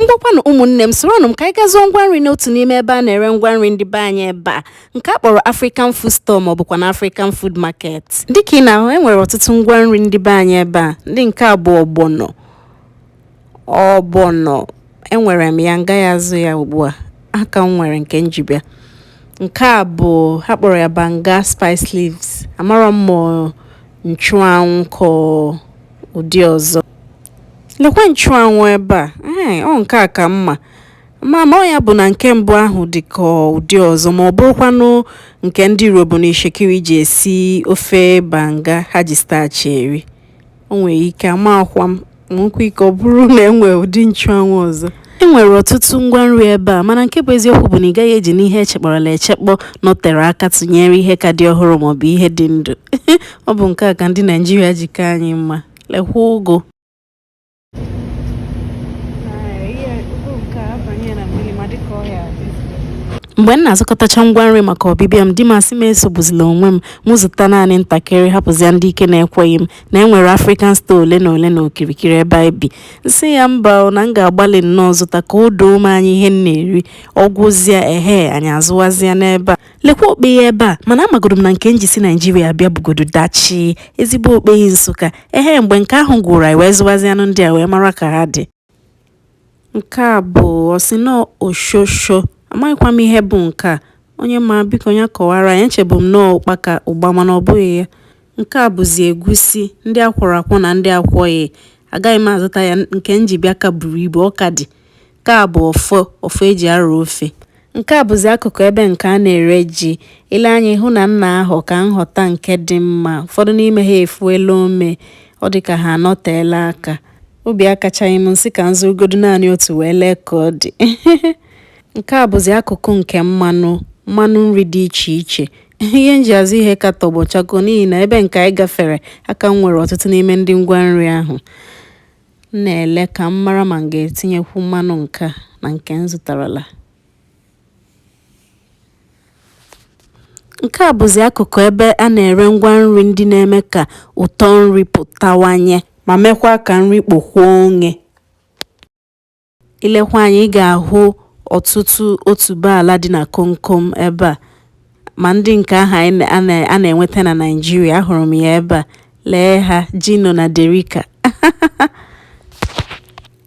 ngwakwanụ ụmụnne m soronụ m ka anyị gaa zụọ ngwa nri n'otu n'ime ebe a na-ere ngwa nri ndị be anyị ebe a nke a kpọrọ African Food Store ma ọ bụkwa na African Food Market dịka ị na-ahụ e nwere ọtụtụ ngwa nri ndị be anyị ebe a ndị nke a bụ ọgbọnọ enwere m ya ngaghị azụ ya ugbu a aka m nwere nke nji bịa nke a bụ ha kpọrọ ya banga spice leaves amarọ m ma nchụanwụ ka ọ ụdị ọzọ Lekwa nchụanwụ ebe a. Ee, ọ nke a ka m ma. Mana ọ ya bụ na nke mbụ ahụ dị ka ụdị ọzọ ma ọ bụrụkwanụ nke ndị Urhobo na Itsekiri ji esi ofe banga ha ji starch eri. O nwere ike amakwa m nwekwa ike ọ bụrụ na e nwere ụdị nchụanwụ ọzọ. E nwere ọtụtụ ngwa nri ebe a mana nke bụ eziokwu bụ na ị gaghị eji n'ihe e chekpọrọla echekpọ nọtere aka tụnyere ihe ka dị ọhụrụ maọbụ ihe dị ndụ. Ọ bụ nke a ka ndị Naịjirịa ji ka anyị mma. lekwa ụgụ mgbe m na-azụkọtacha ngwa nri maka ọbịbịa m di m asị m esogbuzila onwe m m zụta naanị ntakịrị hapụzia ndị ike na-ekweghị m na e nwere African store ole na ole na okirikiri ebe anyị bi nsị ya mba na m ga-agbalị nnọọ zụta ka o doo m anya ihe m na-eri ọ gwụzia ehe anyị azụwazịa n'ebe a lekwa okpeyi ebe a mana amagoro m na nke nji si naijiria bịa bugodo dachi ezigbo okpeyi nsụka ehe mgbe nke ahụ gwụrụ anyị wee zụwazianụ ndị a wee mara ka ha dị nke a bụ ọsịnọ oshosho amaghịkwa m ihe bụ nke a onye ma biko ya kọwara anyị echebu m na ọ ụkpaka ụgba mana ọ bụghị ya nke a bụzi egusi ndị a kwọrọ akwọ na ndị akwọghị agaghị m azụta ya nke nji bịa ka buru ibu ọ ka dị Nke a bụ ọfọ ọfọ e ji arụ ofe. Nke a bụzi akụkụ ebe nke a na-ere ji. I lee anya ị hụ na m na-ahụ ka m họta nke dị mma. Ụfọdụ n'ime ha efuela ome. Ọ dị ka ha anọteela aka. Obi akachaghị m nsị ka m zụrụgodu naanị otu wee lee ka ọ dị. Nke a bụzi akụkụ nke mmanụ nri dị iche iche. Ihe m ji azụ ihe ka tọgbọ chakoo n'ihi na ebe nke anyị gafere aka m nwere ọtụtụ n'ime ndị ngwa nri ahụ. M na-ele ka m mara ma m ga-etinyekwu mmanụ nke a na nke m zụtarala. Nke a bụzi akụkụ ebe a na-ere ngwa nri ndị na-eme ka ụtọ nri pụtawanye ma mekwa ka nri kpokwuo onye. I lekwa anya, ị ga-ahụ ọtụtụ otuboala dị na komkom ebe a. Ma ndị nke ahụ a na-enweta na Naịjirịa, ahụrụ m ya ebe a. Lee ha, Gino na Derica.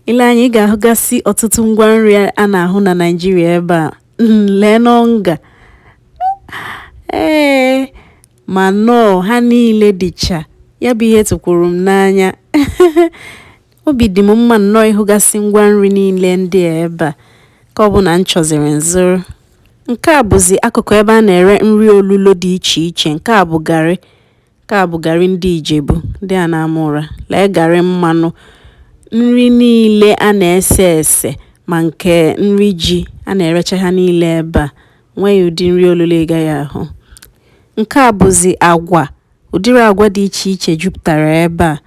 I lee anya, ị ga-ahụgasị ọtụtụ ngwa nri a na-ahụ na Naịjirịa ebe a. Mm, Leenụ Onga. Ee, ma Knorr, ha niile dịcha. Ya bụ ihe tụkwuru m n'anya. Obi dị m mma nnọọ ịhụgasị ngwa nri niile ndị a ebe a nke ọbụla m chọziri m zụrụ. Nke a bụzi akụkụ ebe a na-ere nri olulo dị iche iche. Nke a bụ garị. Nke a bụ garị ndị Ijebu, ndị a na-ama ụra. Lee garị mmanụ. Nri niile a na-ese ese ma nke nri ji a na-erecha ha niile ebe a. O nweghị ụdị nri olulo ị gaghị ahụ. Nke a bụzi agwa. Ụdịrị agwa dị iche iche jupụtara ebe a.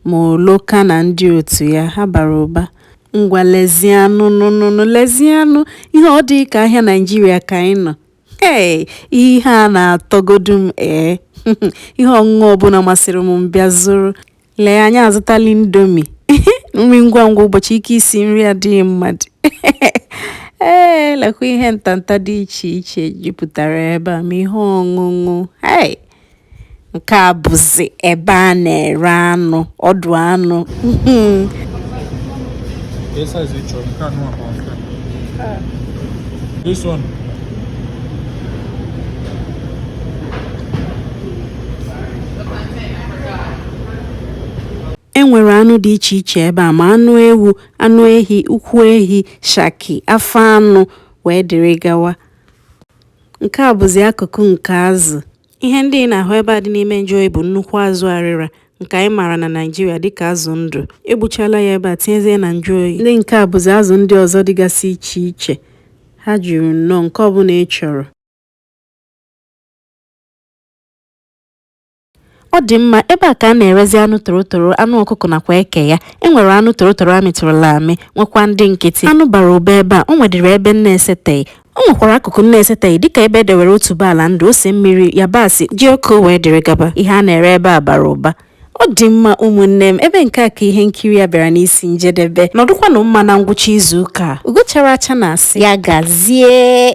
Ma oloka na ndị otu ya ha bara ụba. Ngwa lezianụ nụ nụ nụ lezianụ ihe ọ dịghị ka ahịa Naịjirịa ka anyị nọ. Hey! Ihe a na-atọgodu m ee. Ihe ọṅụṅụ ọbụla masịrị m m bịa zụrụ. Lee anyị azụtala Indomie. Nri ngwa ngwa ụbọchị ike isi nri adịghị mmadụ. Ee, lekwa ihe ntanta dị iche iche jupụtara ebe a ma ihe ọṅụṅụ. Hey! nke a bụzi ebe a na-ere anụ ọdụ anụ This one. enwere anụ dị iche iche ebe a ma anụ ewu anụ ehi ụkwụ ehi shaki afọ anụ wee dịrị gawa Nke a bụzi akụkụ nke azụ. Ihe ndị ị na-ahụ ebe a dị n'ime njụ oyi bụ nnukwu azụ arịra nke anyị maara na Naịjirịa dịka azụ ndụ. Egbuchala ya ebe a tinyezie na njụ oyi. Ndị nke a bụzi azụ ndị ọzọ dịgasị iche iche. Ha juru nnọọ nke ọbụla ị chọrọ. Ọ dị mma, ebe a ka a na-erezi anụ torotoro, anụ ọkụkọ nakwa eke ya. E nwere anụ torotoro a mịtụrụla amị, nwekwa ndị nkịtị. Anụ bara ụba ebe a, o nwedịrị ebe m na-eseteghị. O nwekwara akụkụ m na-eseteghị dịka ebe e dewere otuboala ndụ, ose mmiri, yabasị, jioko wee dịrị gaba. Ihe a na-ere ebe a bara ụba. Ọ dị mma ụmụnne m, ebe nke a ka ihe nkiri a bịara n'isi njedebe. Nọdụkwanụ mma na ngwụcha izuụka a. Ugo chara acha na-asị ya gazie.